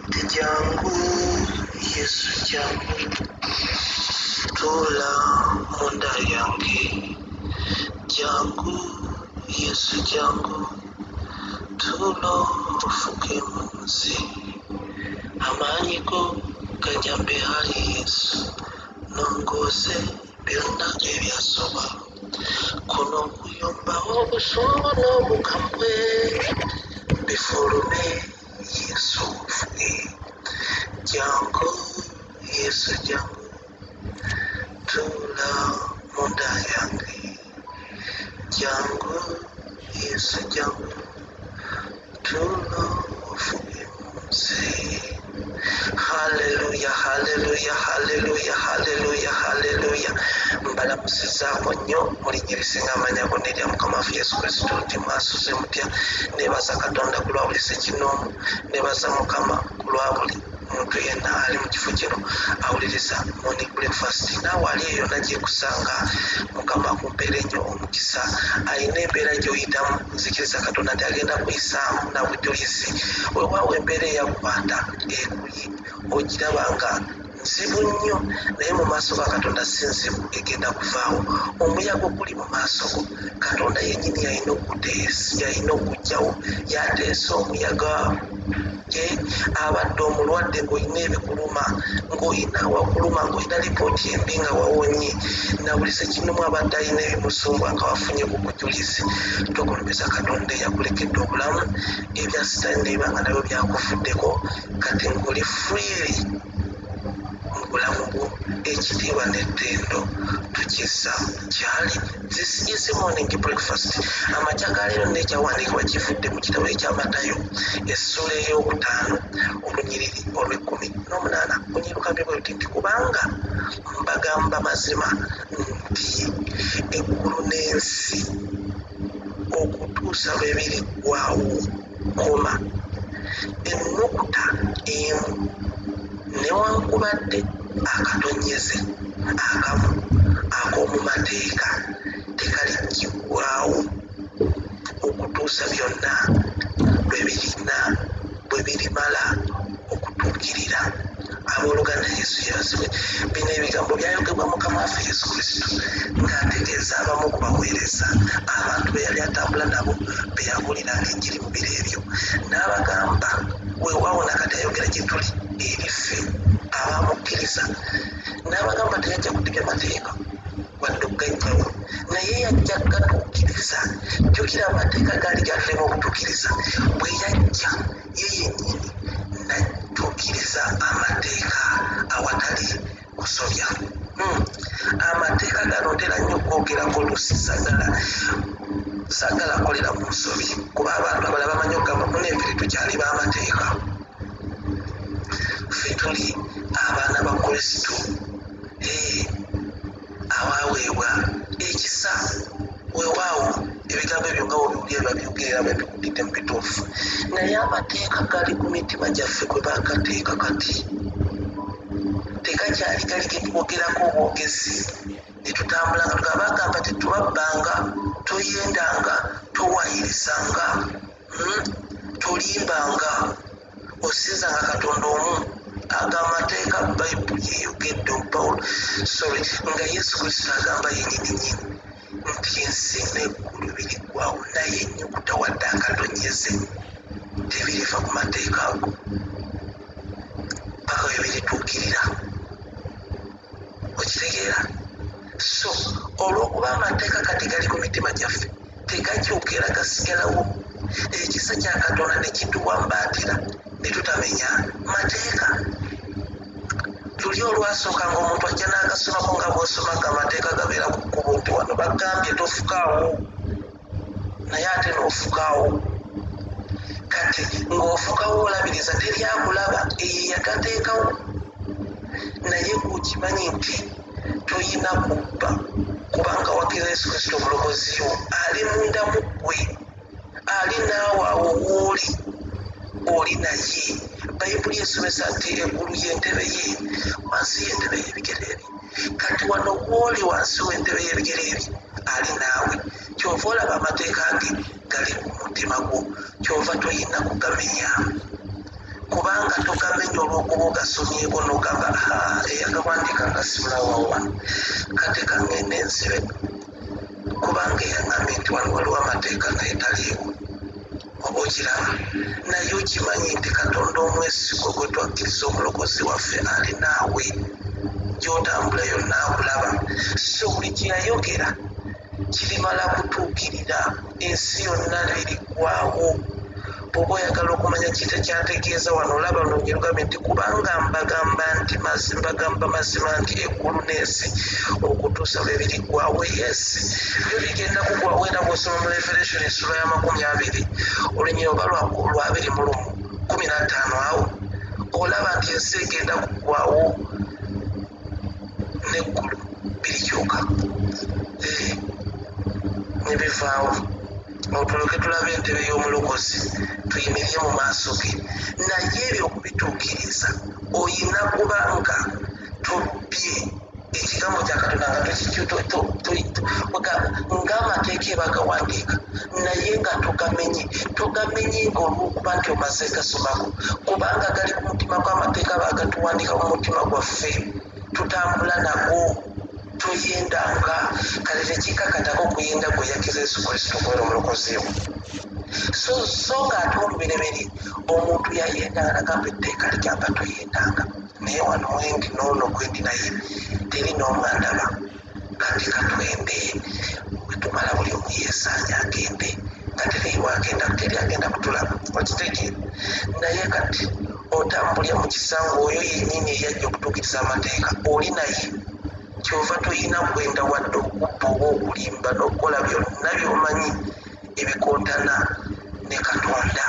ndi jangu yesu jangu tula munda yange jangu yesu jangu tulo ofuke mu nsi amaanyi go gajambe hali yesu nongoose byonna ebyasoma kuno okuyombawo obusungu n'obukambwe bifulume yesu ofune jangu yesu jangu tula munda yange jangu yesu jangu tuno ofunye munsi haleluya haleluya haleluya haleluya haleluya mbalamusizaako nnyo mulinnya ebisinga amanya gonna erya mukama wafe yesu kristo nti mwasuze mutya nebaza katonda ku lwa buli sekinoomu nebaza mukama ku lwa buli Omuntu yenna ali mu kifo kino awuliriza Morning Breakfast naawe ali eyo nagyekusanga. Mukama akumpeere nnyo omukisa. Alina embeera gy'oyitamu nzikiriza Katonda nti agenda kuyisaamu na bujulizi. Weewaawo embeera eyakukwata ekuyi ogiraba nga nzibu nnyo naye mu maaso ga katonda si nzibu egenda kuvaawo omuyaga oguli mu maaso go katonda yennyini yalina okuteesa yalina okugjawo yateesa omuyaga Ye abadde omulwadde ng'olina ebikuluma, ng'olina awakuluma, ng'olina lipooti embi nga wawonye. Na buli ssekinnomu abadde alina ebimusumbuwa nga wafunye ku bujulizi. Tokulumizza Katonda eyakulekedde obulamu, ebya sitaani ne biba nga nabyo byakuvuddeko, kati ng'oli freely mu bulamu bwo. Ekitiibwa n'ettendo tukizza. gyali zisiise morning breakfast amakya ga leero n'ekyawandiikibwa kivudde mu kitabo ekya matayo essula ey'okutaano olunyiriri olw'ekkumi n'omunaana bunyirukamye bwe luti nti kubanga mbagamba mazima nti eggulu n'ensi okutuusa lwe biriggwawo koma ennukuta emu newankubadde akatonnyeze akamu ak'omu mateeka tekaliggibwawo okutuusa byonna lwe birina bwe birimala okutuukirira. Abooluganda, Yesu yeebazibwe! Bino ebigambo byayogebwa Mukama waffe Yesu Kristo ng'ategeeza abamu ku baweereza abantu be yali atambula nabo be yabuuliranga Enjiri mu biro ebyo. N'abagamba, Weewaawo na kati ayogera gye tuli eri ffe abaamukkiriza. N'abagamba teyajja kudiga mateeka wadde okugajjawo, naye yajja kugatuukiriza. Jjukira, amateeka gaali gaatulema obutuukiriza bwe yajja. ye yennyini n'atuukiriza amateeka awatali kusobya. Hmm. Amateeka gano ntera nnyo okwogerako oluusi sagala sagala kolera ku nsobi kuba abantu abala bamanyi okugamba munenfiri tukyali b'amateeka ffe tuli abaana ba kristo awaweebwa ekisa wewaawo ebigambo ebyo nga wobiwulira biba byogerera bwe biwulidde mu bituufu naye amateeka gali ku mitima gyaffe kwe bakateeka kati tekakyali gali getwogerako obwogezi netutambula nga tugaba agamba tetubabbanga toyendanga towayirizanga hmm, tolimbanga osiza nga katonda omu aga amateeka bayibuli eyogedde pawulo sorry nga yesu kristo agamba yenyininyini nti ensi neggulu biriggwawo naye ennyukuta wadde akatonyeze tebiriva ku mateeka ago paka we birituukirira kusigera so olwokuba amateeka kati gali ku mitima gyaffe tegakyuka era gasigalawo ekisa kya katonda nekituwambaatira netutamenya mateeka tuli olwasooka nga omuntu ajja n'agasomako nga bwosoma nga amateeka gabeera ku kkubo nti wano bagambye tofukaawo naye ate n'ofukawo kati ng'ofukawo olabiriza teryakulaba eyo yagateekawo naye kukimanyi nti toyina kubba kubanga wakira yesu kristo omulokoziyo ali munda mu ggwe ali naawe awo wooli oli naye bayibuli esomesa nti eggulu y'entebe ye wansi y'entebe y'ebigere kati wano wooli wansi w'entebe y'ebigere bye ali naawe kyova olaba amateeka ge gali ku mutima gwo kyova toyina kugamenya kubanga togamenya olwokuba ogasomyeko nogamba eyagawandiika nga simulawa wano kati kangenda ensibe kubanga eyagambe nti wano waliwo amateeka naye taliiwo Oba okiraba, naye okimanyi nti Katonda omwesigwa gwe twakkiriza Omulokozi waffe ali naawe. Gy'otambula yonna akulaba. So buli kye yayogera kirimala kutuukirira. Ensi yonna liriggwaawo. Bw'oba oyagala okumanya ki ky'ategeeza wano, olaba luno gye lugambye nti, Kubanga mbagamba nti, mazi, mbagamba mazima nti, eggulu n'ensi okutuusa lwe biriggwaawo, yes, Ebyo bigenda kugwawo era bw'osoma mu Revelation essula y'amakumi abiri olunyiriro nga lwabiri mu lumu kumi na ttaano awo olaba nti ensi egenda kugwawo n'eggulu birikyuka eh, ne bivaawo otulyoke tulaba entebe y'omulokozi tuyimirire mu maaso ge naye ebyo okubituukiriza oyina kuba nga tubbye ekigambo kya katonda nga ng'amateeka ebagawandiika naye nga tugamenye tugamenye ng'olwokuba nti omaze gasomako kubanga gali ku mutima gw'amateeka bagatuwandiika mu mutima gwaffe tutambula nago tuyenda nga kale tekikakatako okuyenda gwe yakkiriza yesu kristo okubeera omulokozi we so so ng'ate olubereberye omuntu yayendanga nagamba etteeka ligamba toyendanga naye wano wendi noono gwendi naye teri noomu alaba kati katwende wetumala buli omu yesaanya agende nga teriiwagenda teri agenda kutulaba okitege naye kati otambulira mu kisanga oyo yenyini eyajja okutuukiriza amateeka oli naye kyova toyina kwenda wadde okubba oba okulimba n'okukola byonna byomanyi ebikontana ne katonda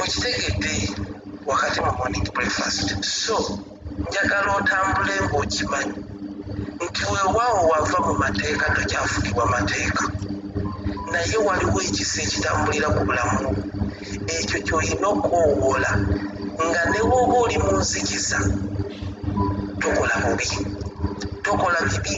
okitegedde wakati mu morning breakfast so njagala otambule ng'okimanyi nti weewaawo wava mu mateeka tokyafugibwa mateeka naye waliwo ekisa ekitambulira ku bulamu ekyo kyolina okwowoola nga newooba oli mu nzikiza tokola bubi tokola bibi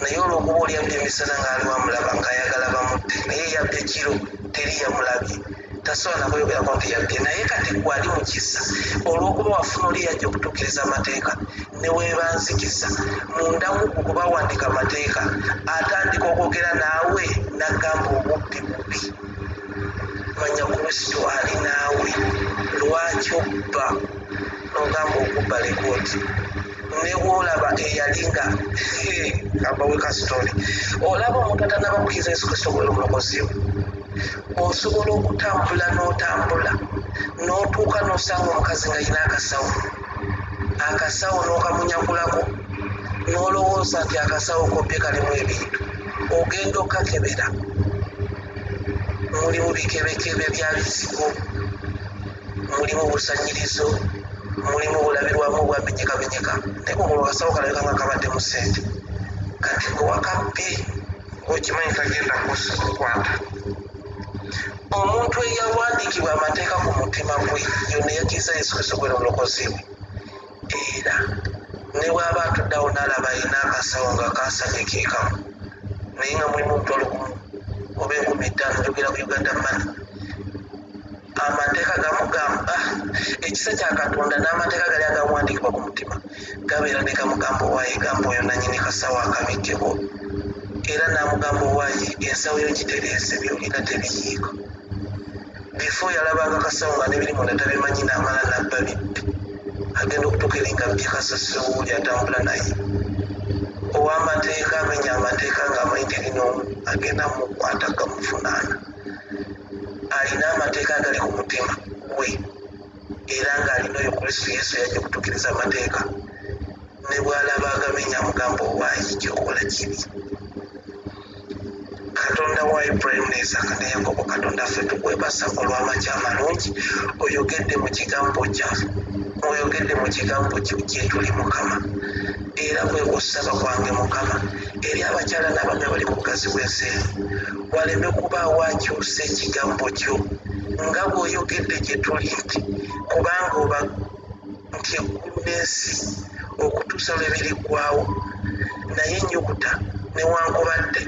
naye olwokuba oli abbi emisana ngaaliwo amulaba ngaayagala bamutte naye yabbi ekiro teri yamulabye tasobola nakuyogerako nti yabbi naye kati gwe ali mu kisa olwokuba wafuna oli yajja okutuukiriza amateeka newebanzikiza mundamu okubawandiika amateeka atandika okwogera naawe nagamba obubbi bubbi manya kristo ali naawe lwaki obba nogamba okubba lekooti newolaba eyalinga abaweka sitoli olaba omuntu atanaba kuyiza yesu kristo wela omulokozi we osobola okutambula n'otambula n'otuuka n'osanga omukazi nga yina akasawo akasawo n'okamunyakulako n'olowooza nti akasawo kobbye kalimu ebintu ogenda okakebera mulimu bikebekebe bya bizigo mulimu busanyirizo mulimu bulabirwamu obwabinyikabinyika naye bwoba olwasawo kalabika nga kabaddemu ssente kati gwe wakabbi okimanyi kagenda kusa okukwata omuntu eyawandiikibwa amateeka ku mutima gwe yona eyakiriza yesu kristo gwera omulokozi we era ne bwaba atuddawo naalaba alina akasawo nga kasanye kekamu naye nga mulimu omutwalo gumu oba enkumi ttaano njogera ku uganda mani amateeka gamu gamba ekisa kya katonda n'amateeka gali agawandiikibwa ku mutima gabeera ne gamugamba owaaye gamba oyo nanyini kasawo akabikkeko era n'amugamba owaaye ensawo yo gitereese byolina tebiyiika bifo yalabanga kasawo nga nebiri munda tabimanyi n'amala nabba bibbe agenda okutuuka eri nga byekasasewuuli atambula naye ow'amateeka amenya amateeka ng'amanyi teri n'omu agenda mukwata gamuvunaana alina amateeka agali ku mutima gwe era ng'alina oyo kristo yesu yajja okutuukiriza amateeka ne bw'alaba agamenya amugamba owaayi kyokola kibi katonda wa ibulayimu ne isaaka ne yakobo katonda ffe tukwebasa olw'amaki amalungi oyogedde mu kigambo kya oyogedde mu kigambo kyo gyetuli mukama era kwe kusaba kwange mukama eri abakyala n'abaami abali mu bugazi bw'ensi eno waleme kubaawo akyusa ekigambo kyo nga bw'oyogedde gye tuli nti kubanga oba nti eggulu n'ensi okutuusa lwe biriggwawo naye ennyukuta newankubadde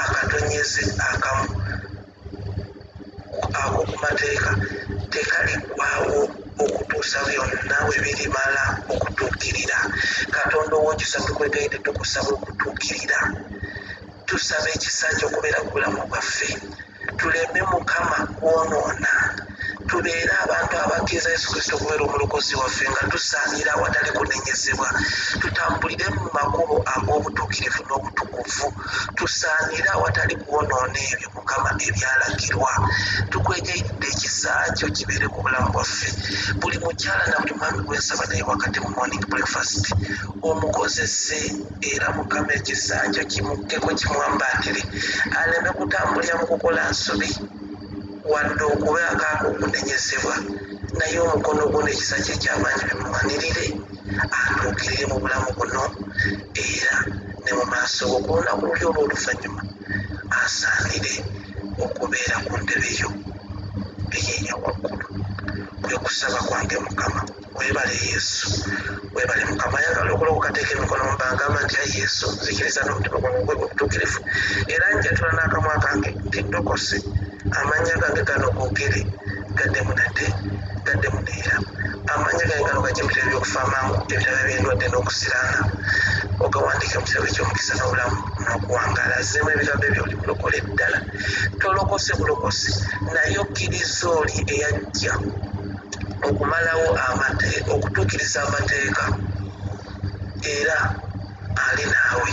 akatonyeze akamu akokumateeka tekaliggwawo okutuusa byonna we birimala okutuukirira katonda ow'ekisa tukwegayidde tukusaba okutuukirira tusaba ekisa kyo okubeera ku bulamu bwaffe tuleme mukama kwonoona tubeere abantu abakkiriza yesu kristo okubeera omulokozi waffe nga tusaanira awatali kunenyezebwa tutambulire mu makubo ag'obutuukirivu n'obutukuvu tusaanire awatali kuwonoona ebyo mukama ebyalagirwa tukwegeyidde ekisa kyo kibeere ku bulamu bwaffe buli mukyala na buli mwami gwensaba naye wakati mu morning breakfast omukozese era mukama ekisa kyo kimukkeko kimwambaatire aleme kutambulira mu kukola nsobi Wadde okuba akaaba okunenyezebwa, naye omukono gwo n'ekisa kyo eky'amaanyi bimulwanirire atuukirire mu bulamu buno era ne mu maaso go ku lunaku luli olw'oluvannyuma asaanire okubeera ku ntebe yo ey'eya waggulu. Kwe kusaba kwange Mukama. webale yesu webale mukama ayagala okulokoka teeka emikono mubangamba ntya yesu nzikiriza n'omutima gwange gwe obutuukirivu era njatula n'akamwa kange teddokosi amannya gange gano googere gaddemu nate gaddemu neera amannya gange gano gajja mu bitabo by'okufa amangu ebitabo eby'endwadde n'okusiraana ogawandiika mu kitabo eky'omukisa n'obulamu nokuwangaala azzeemu ebigambo ebyo oli mulokole ddala tolokose bulokosi naye okkiriza oli eyajja okumalawo okutuukiriza amateeka era ali naawe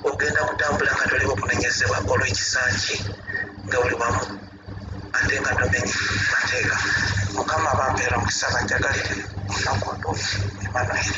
ogenda kutambula nga toli wakunenyezebwa olw'ekisa kye nga buli wamu ate nga tomenye mateeka mukama bampeera omukisa banjagalire nakundu emmanuel